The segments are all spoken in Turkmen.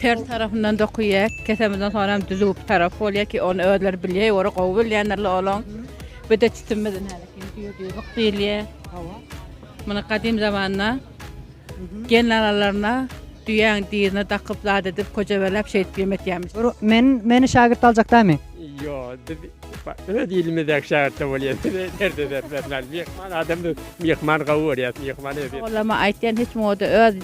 Ters tarapyndan dokaýýar. Kesemizden soňam düzüp bir tarap bolýar ki, ony özleri bilýär, ýogra gowy bilýändirler olaň. Bir de tütünimiz düýrlük diýilýär. Hawa. Muny gadym zamanda gelnalalaryna düýäň dirine dakyp zat edip, köjebelep şeýdip ýemek ýermiş. Men meni şagirt aljak damy? Ýok, biz öz ilimizdäki şäherçe bolýas. Nirde bermezler. Myhman adam biz myhman gawy görýäs. Myhman özi. Oglama aýtýan hiç moda öz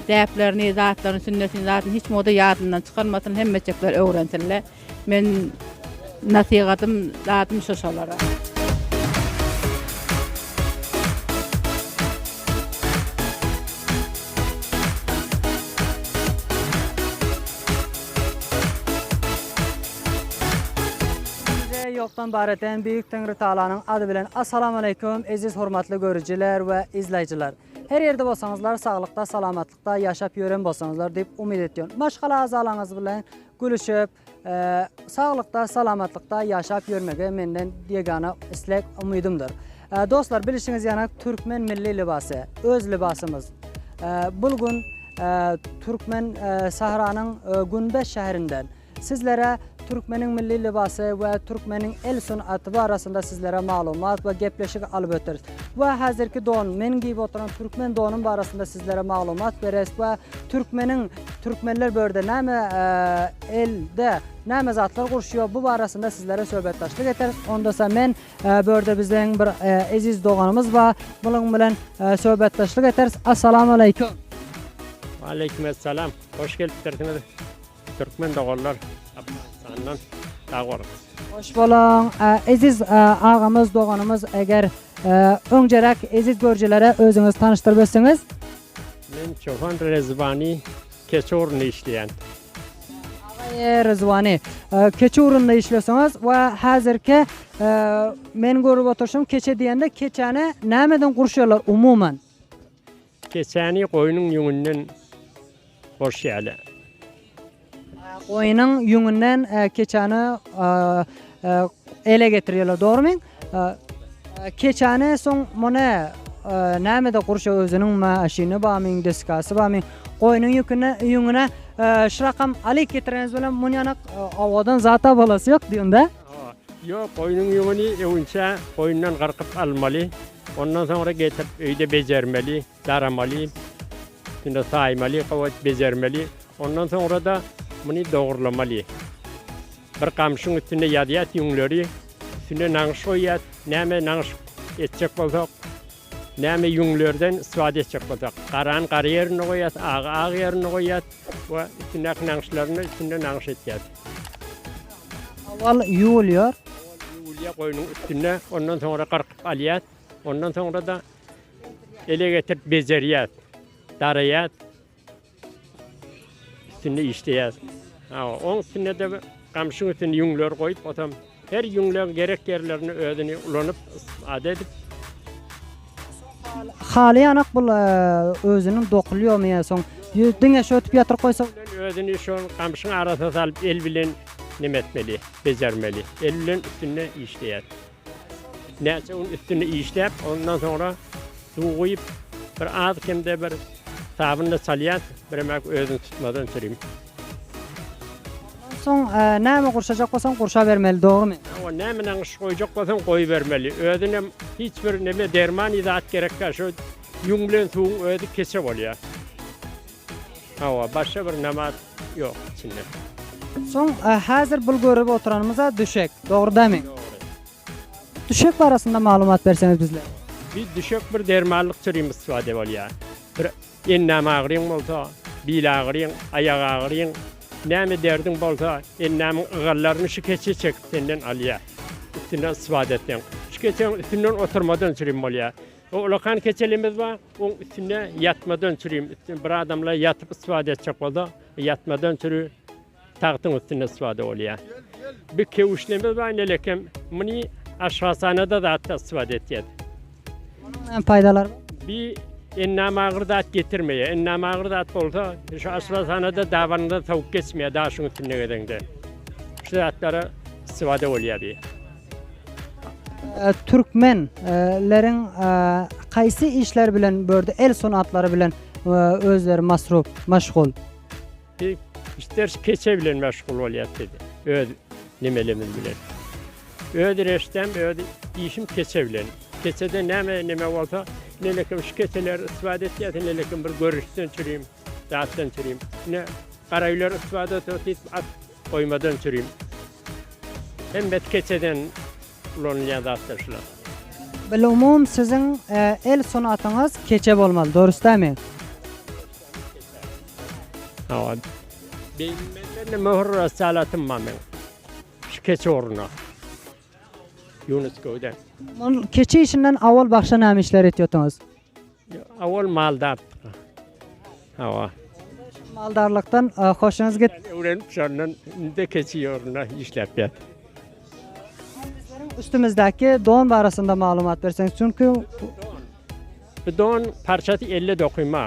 däplerini, zatlaryny, sünnetini, zadyny hiç moda ýadyndan çykarmasyn, hemmeçekler öwrensinler. Men nasihatym, zadym şo şolara. Bize ýokdan bar eden Beýik Teňritagalanyň ady bilen Assalamualeýkum eziz hormatly görüjiler we izlaýjylar. Her ýerde bolsaňyzlar saglykda salamatlykda ýaşap ýören bolsaňyzlar diýip umyt etýän. Maşgala agzalaňyz bilen gülüşip saglykda salamatlykda ýaşap ýörmegi menden ýegana islek umydymdyr. Dostlar bilişiňiz ýana Türkmen milli lybasy, öz lybasymyz. Bul gün Türkmen Sahranyň Günbes şäherinden sizlere Türkmeniň milli lybasy we Türkmeniň el sunaty barasynda sizlere maglumat we gepleşik alyp ötüris. We hazirki don, meniň giyip oturan Türkmen donum barasynda sizlere maglumat beres we Türkmeniň Türkmenler börde name elde name zatlar gurşuyor bu barasynda sizlere söhbetdaşlyk eteris. Onda sa men Bu ýerde biziň bir eziz doganymyz bar. Munuň bilen söhbetdeşlik ederis. Assalamu aleýkum. Waleýkim essalam. Hoş gelipdirsiňiz. Türkmen doganlar Afganistandan. Sag boluň. Hoş boluň. Eziz agamyz, doganymyz, eger öňjeräk eziz görjilere özüňizi tanyşdyryp ötseňiz? Men Çopan Rezvani. Keçe orunda işleýän. Agaýe Ryzwany, keçe orunda işleseňiz we häzirki men görüp oturşym keçe diýende keçäni nämeden gurşýarlar umuman? Keçäni goýnuň ýüňünden gurşýarlar. Goýnuň ýüňünden keçäni ele getirýärler, dogrumy? Keçäne soň mone nämede gurşa özüniň ma şyny bamy deskasy bamy goýnuň ýüküne ýüňüne şrakam alyk getireniz bilen mun ýana owadan zata bolasy ýok diýunda. Ýok goýnuň ýüňüni öwünçä goýundan gyrkyp almaly ondan soňra getirip öýde bejermeli. Daramaly, şunda saýmaly, gabat bejermeli. Ondan soňra-da muny dogurlamaly. Bir gamşyň üstünde ýazýas ýüňleri, üstüne nagyş goýýas. Näme nagyş etjek bolsak, näme ýüňlerden istifade etjek bolsak, garany gara ýerinde goýýas, agy ak ýerinde goýýas we üstündäki nagyşlaryny üstünde nagyş etýäs. Owal ýuwulýar. Ýuwulýar goýnuň üstünde, ondan soňra gyrkyp alýas. Ondan soňra-da Ele getirip bejerýäs. Daraýas. Üstünde işleýäs. Ha, oň üstünde de gamşyň üstünde ýüňler goýup, otam her ýüňleň gerek ýerlerini özüni ulanyp, istifade edip. Halaýanak bul e, özüniň dokulýomy ýa soň diňe şu ötüp ýatyryp goýsa. Özüni şu gamşyň arasyna salyp el bilen nime etmeli, bejermeli. El bilen üstünde işleýäs. Näçe gün üstünde işläp, ondan soňra suw guýup, bir az kemde bir sabynla çalýas, biremek özüni tutmaz öňçürim. Soň e, näme gurşajak bolsaň gurşa bermeli, dogrymy? Awa näme näme şy goýjak bolsaň goýbermeli. Özüne hiç bir näme derman zat gerekkä, şu ýüň bilen suwuň özi keçe bolýar. Hawa, başga bir nabat ýok içinde. Soň häzir bul görüp oturanymyza düşek, dogrdamy? Dogry. Düşek barasynda maglumat berseňiz bizlere. Bir düşek bir dermanlyk türim istiwade bolýar. Bir endam agyryň bolsa, bil agyryň, aýak agyryň, näme derdiň bolsa, endamyň ygallaryny şu keçe çekip senden alýar. Üstünden istiwade etseň. Şu keçäň üstünden oturmadan türim bolýar. Bu ulakan keçelimiz bar. Oň üstünde ýatmadan çürim. Üstünde bir adamlar ýatyp istifade etjek bolsa, ýatmadan çüri tagtyň üstünde istifade bolýar. Bir kewüşlimiz bar, nelekem. Muny aşhasanada zatda istifade etýär. Näme paýdalar? Bir ennam agyr zat getirmeýär. Ennam agyr zat bolsa, şu aşhasanada dabanyňda sowuk geçmeýär, daşyň üstünde gezeňde. Şu zatlara istifade bolýar bir. Türkmen leriň haýsy işler bilen bu ýerde el sunatlary bilen özleri masrup, maşgul? Biz işders keçe bilen maşgul bolýas biz öz nimelerimiz bilen. Öz reştem öz işim keçe bilen. Keçeden näme nime bolsa nelekim şu keçeleri istifade etýäs nelekim bir görüşden çürim zatdan çürim. Ine garaýylar istifade etýär. Goýmadan sürim. Hem bet keçeden ulanylýan zatlar şular. Bilumum siziň el sunatyňyz keçe bolmaly dorus dämi? Hawa. Beýnimende möhür ressalatym bar meň. Şu keçe ugruna. Ýunus göwden. Keçe işinden owal bagşa näme işler etýotyňyz? Owal maldardyk. Hawa. Maldarlykdan e, hoşuňyz git. Öwrenip şondan indi keçi ýolunda işläp ýat. Üstümizdäki don barasynda maglumat berseňiz. Çünki Bu don parçasy 50 dokuma.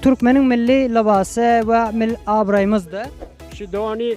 türkmeniň milli lybasy we mil abraýymyzdy. Şu dony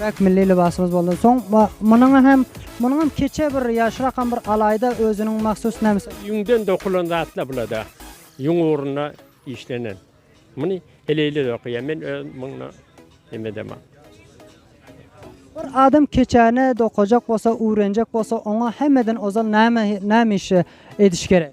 Köpräk milli lybasymyz boldan soň we munuň hem munuň hem keçe bir ýaşrakam bir alaýda özüniň mahsus nämes. Ýüňden dokulan zatlar bulada. Ýüň ugruna işlenen. Muny heleýler dokaýar. Men özüm muňa neme edemok. Bir adam keçäni dokajak bolsa, öwrenjek bolsa, oňa hemmeden ozal näme näme işi ediş gerek?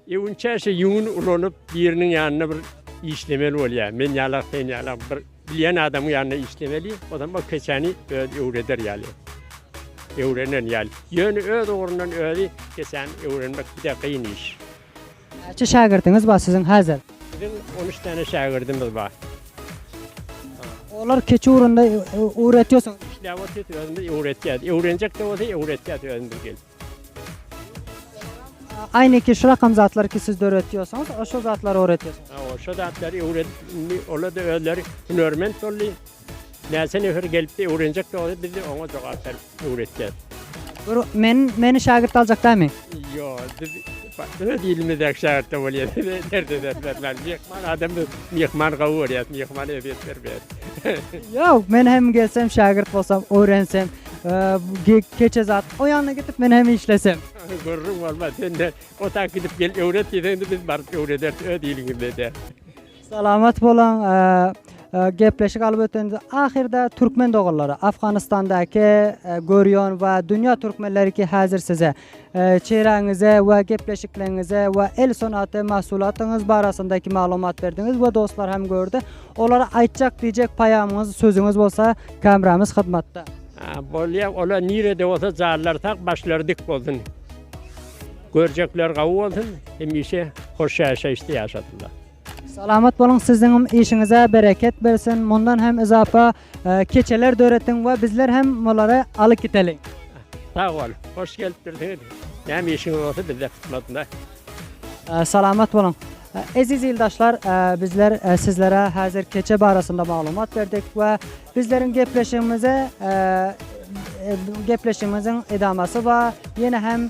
Öwünçäşe ýüňüni ulanyp, biriniň ýanynda bir işlemeli bolýar. Men ýalak, sen ýalak bir bilýän adamyň ýanynda işlemeli. Ozam ol keçäni özi öwreder ýaly. Öwrenen ýaly. Ýöne öz ugrundan özi keçäni öwrenmek juda kyn iş. Näçe şägirdiňiz bar siziň häzir? Biziň on üç sany şägirdimiz bar. Olar keçe ugrunda öwretýärsiňiz. Işläp otyrys, özümiz öwretýäs. Öwrenjek-de bolsa öwretýäs özümiz gelip. Aýneki şu rakam zatlar ki siz döretýosoňyz o şo zatlar öwretýosoňyz. Hawa şo zatlar öwredip indi olar da özleri hünärment boldy. Näçe nefer gelipdi öwrenjek boldy biz oňa jogap berip öwretýäs. Bir men meni şägirt aljak dämi. Ýok biz öz ilimizdäki şägirtde bolýas derde dertlenmän myhman adam biz myhman gowy görýäs myhmana ezýet bermeýäs. Ýok men hem gelsem şägirt bolsam öwrensem. Keçe zat. O ýanyna gidip men hem işlesem. Gürrüň bolmaz. Sen de o tak gidip gel öwret diýseň de biz baryp öwrederis öz ilimizde de. Salamat boluň. Gepleşik alyp ötende ahyrda türkmen doganlara Afganistandaki görýän we dünýä türkmenleri ki häzir size Çyraňyza we gepleşikleriňize we el sungaty mahsulatyňyz barasyndaky maglumat berdiňiz we dostlar hem gördi. Olara aýtjak diýjek paýamyňyz, sözüňiz bolsa kameramyz hyzmatda. Bolýa, olar nirede bolsa jarlar sag, başlary dik bolsun. Görjekler gawy bolsun, hemişe hoş ýaşaýyşda ýaşasynlar. Salamat boluň, siziňm işiňize bereket bersin. Mundan hem yzapa Keçeler döretiň we bizler hem olary alyp gideliň. Sag bol. Hoş gelipdirsiňiz. Näme işiňiz bolsa bizde hyzmatda. Salamat boluň. Eziz ildaşlar, bizler sizlere häzir keçe barasynda maglumat berdik we bizleriň gepleşigimize gepleşigimiziň edamasy bar. Ýene hem.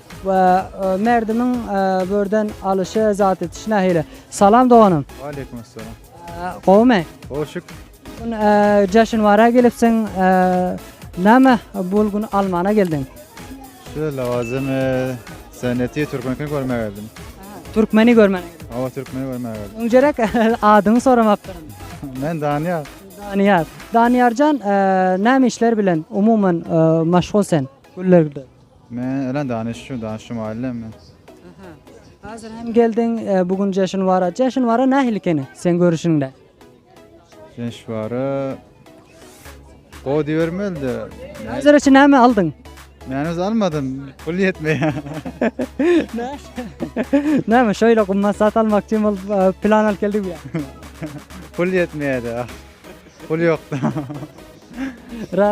We merdimiň börden alyşy zat etiş nähili. Salam doganym. Waleýkum assalam. Gowmy? Gowy şükür. Gün jaşyn wara gelipsiň. Näme bul gün almana geldiň? Şu lawazym seneti türkmenki görmäge geldim. Türkmeni görmäge. Hawa türkmeni görmäge geldim. Öňjerek adyňy soramapdyryn. Men Danyýar. Danyýar. Danyýarjan näme işler bilen umuman maşgul sen? Güller. Men ölen danyş şu danyş şu maýylda men. Aha. Hazir hem geldiň bu gün jeşin wara. Jeşin wara nähili ekeni sen görüşiňde? Jeş wara Go diýermelde. Hazir üçin näme aldyň? Men öz almadym. Pul ýetmeýär. Näme şöyle gymmat zat almakçy bol plan alyp geldik ya. Pul ýetmeýärdi. Pul ýokda. Ra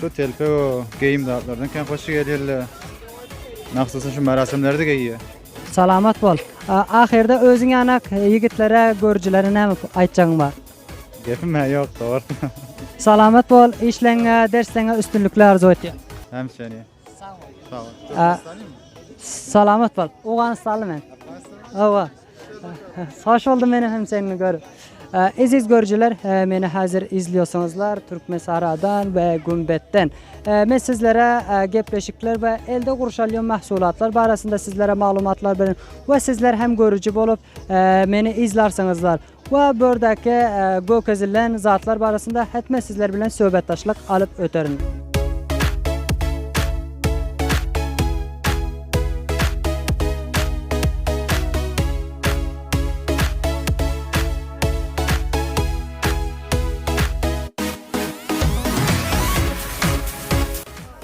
Şu telpek o geýim zatlardan kän hoşy gelýärle. Mahsusyn şu merasimlerde geýýär. Salamat bol. Ahyrda özüň ýanak ýigitlere, görüjilere näme aýtjagyň bar? Gepim-ä ýok, dogry. Salamat bol, işleňňe, dersleňňe üstünlikler arzuw etýän. Hem seni. Salamat bol. Owganystanly men. Awa. Hoş boldum meni hem seni görüp. Eziz görüjiler, meni hazır izliyorsunuzlar Türkmen Saradan ve Gümbet'ten. Men sizlere gepleşikler ve elde kurşalyon mahsulatlar barasında sizlere malumatlar verin. Ve sizler hem görücü bolup meni izlarsanızlar. we bu ýerdäki görkezilen zatlar barasynda hetme sizler bilen söhbetdeşlik alyp öterin.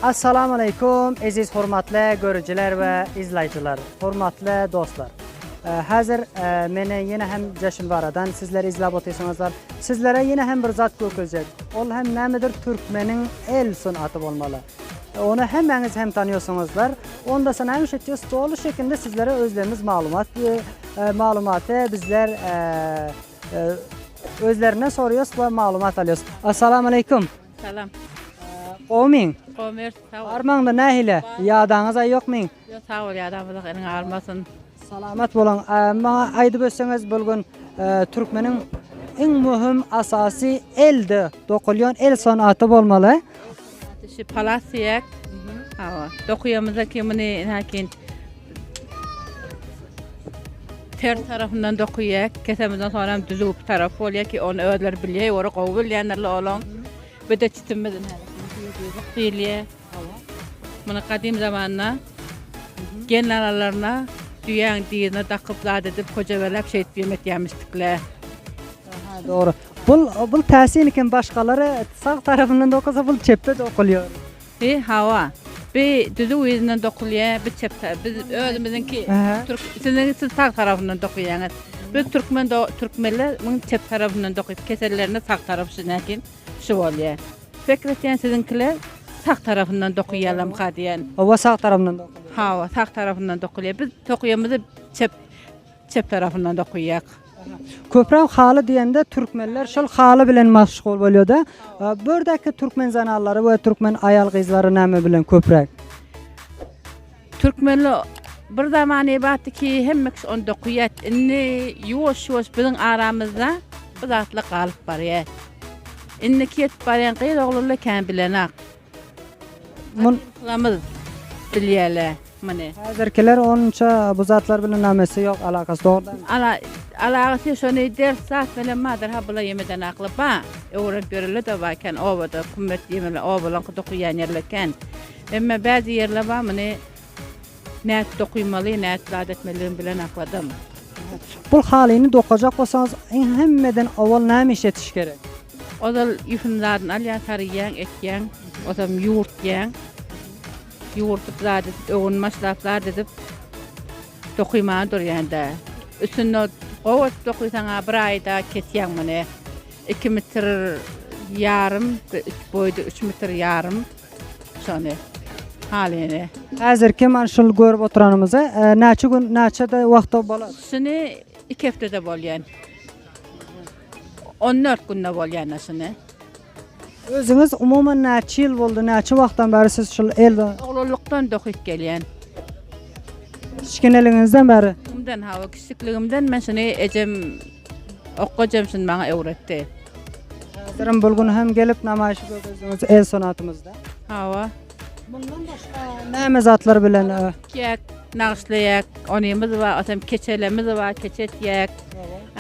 Assalamu aleykum, eziz hormatly görüjiler we izlaýjylar, hormatly dostlar. Hazir meni yene hem Jaşil Varadan sizler izlap otyrsynızlar. Sizlere yene hem bir zat gökeljek. Ol hem nämedir Türkmeniň el sunaty bolmaly. Onu hemmäňiz hem tanýorsyňyzlar. Onda sana hem şeýtdi stoly şekilde sizlere özlerimiz maglumat e, maglumaty bizler e, e, özlerinden soruyoruz ve maglumat alýorys. Assalamu aleykum. Salam. Gowmyň? Gomer, sag ol. Armaňda nähile? Ýadaňyz aý ýokmy? Ýok sag bol ýa Rabbi ýok eliňe almasyn. Salamat boluň. Maňa aýdyp ötseňiz bul gün türkmeniň iň möhüm asasy elde dokulýan el sanaty bolmaly. Şu palas diýek. Hawa. Dokuýamyzda ki muny näkin ter tarafyndan dokuýak. Kesemizden soň hem düzüp taraf bolýar ki ony özleri bilýär, ora gowy bilýänler olaň. Bir de çitimizin diýilýär. Muny gadym zamanda gelin alalaryna düýäň dyzyna dakyp zat edip kojebelap şeýdip ýem etýämişdikle. Aha dogry. Bul bul täsin eken başgalary sag tarapyndan dokasa bul çepde dokulýar. He hawa. Bi düzüw yzyndan dokulýar bi çep ta biz özümiziňki türk siziňki siz sag tarapyndan dokyýaňyz. Biz türkmen do türkmenler muny çep tarapyndan dokyp kesellerini sag tarap şunakin. Şu bolýa. Pikir etýän siziňkiler sag tarapyndan dokyýalamka diýen. Oba sag tarapyndan dokulýa. Hawa sag tarapyndan dokulýa. Biz tokuýamyzy çep çep tarapyndan dokuýak. Köpräk haly diýende türkmenler şol haly bilen maşgul bolýada. Bu ýerdäki türkmen zananlary we türkmen aýal gyzlary näme bilen köpräk? Türkmenli bir zamany batdy ki hemme kişi ony dokyýat indi ýuwaş ýuwaş biziň aramyzda bu zatlar galyp barýa. Indiki ýetip barýan gyz oglanlar kän bilenok. Mun lamyz bilýäle muny. Häzirkiler onça bu zatlar bilen namesi ýok alakasy dogrudan. Ala alagasy şony ders zat bilen badyr ha bula ýemeden akly ba öwrenip ýörele de ba kän obada kummet ýemele obalaňky dokyýan ýerle kän. Emme bäzi ýerler bar, muny nädip dokymaly, nädip zat etmelidigimi bilen akladym. Bul halyny dokajak bolsaňyz, iň hemmeden owal näme işletiş gerek? Ozal ýüpüň zadyny alýaň, saryýaň, etýäň, osam ýuwurtýaň. Ýuwurdyp zat edip, öwün başlap zat edip, dokymaga durýaň-da. Üstünde gowy edip dokysaň-a bir aýda kesýäň muny. Iki metr ýarym, üç boýda üç metr ýarym. Şony halyny. Häzir keman şul görüp oturanymyzy näçe gün näçede wagtda bolar? Şuny 2 hepdede bolýan. 14 günde bolýan aşyny. Özüňiz umuman näçe ýyl boldy, näçe wagtdan bäri siz şul el Oglanlykdan dokyp gelýän. Kiçikineligiňizden bäri? Umdan hawa, kiçilikligimden men şuny ejem Okga jemşin maňa öwretdi. Häzirem bul gün hem gelip namaýyşy görkezdiňiz el sunatymyzda. Hawa. Mundan başga näme zatlar bilen e, Ýek, nagyşlaýak, onymyz bar, otam keçelemiz bar, keçe etýäk.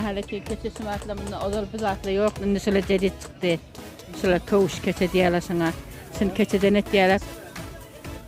Ahali ki keçe şumatla munda ozal bu zatla ýok, indi şular jedit çykdy. Şular köwüş keçe diýýärler şuňa. Şuny keçeden etýärler.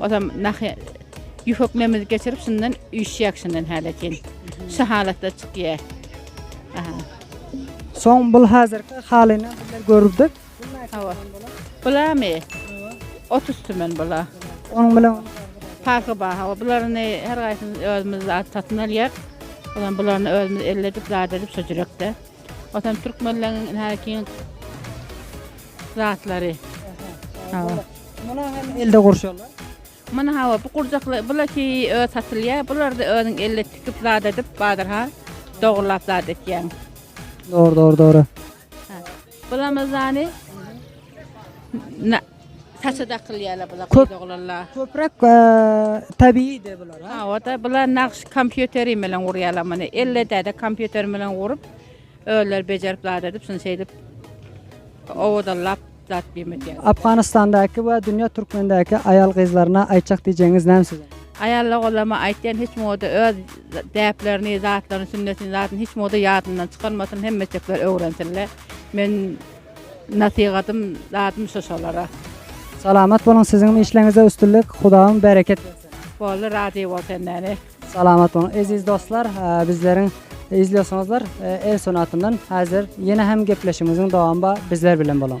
Ozam nahy ýühökmemizi geçirip şundan üýşýäk şundan häle çyn. Şu halatda çykýa. Aha. Soň bul hazirki halyny bizler görüpdik. Hawa. Bulamy? 30 tümen bula. Onuň bilen Parky bar. Hawa, bularyny her gaýsyny özümiz zat satyn alýar. Ozam bularyny özümiz elledip, zat edip şo jürekde. Watan türkmenleriň nähili kyn zatlary. Hawa. Muna hem elde gurşalar. Muna hawa bu gurjakly bulaki öz satylýar. Bular da özüň elde tikip zat edip bazarha dogurlap zat etýän. Dogry, dogry, dogry. Bulamyzany Saça dakylýarlar bular Köp- gyz oglanlar. Köpräk tabiiýdi bular. ha? Ha, o-da bular nagş kompýuteri bilen gurýarlar muny. Elledäde kompýuter bilen gurup, özleri bejerip zat edip, şuny şeýdip owadallap zat biýim edýär. Afganistandaky we dünýä türkmendäki aýal gyzlaryna aýtjak diýjegiňiz näme siziň? Aýal oglanlaryma aýtýan hiç moda öz däplerini, zatlaryny, sünnetini, zadyny hiç moda ýadyndan çykarmasyn, hemmeçekler öwrensinler. Men Nasihatym zadym şu şolara. Salamat boluň siziňm işleňizde üstünlik Hudawym bereket bersin. Boldy razy bol sendeni. Salamat boluň eziz dostlar bizleriň izliyorsuňuzlar el sunatyndan hazir yene hem gepleşigimiziň dowamy bar bizler bilen boluň.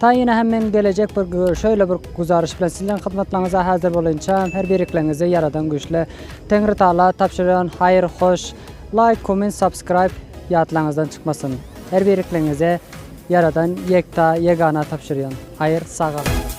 Taýyna hem men gelejek bir şöýle bir güzariş bilen siziň hyzmatlaryňyza häzir bolançam her birikleňizi ýaradan güýçli Teňri Taala tabşyrýan haýyr hoş laýk komment subscribe ýatlaňyzdan çykmasyn her birikleňize ýaradan ýekta ýegana tabşyrýan haýyr sagalyň.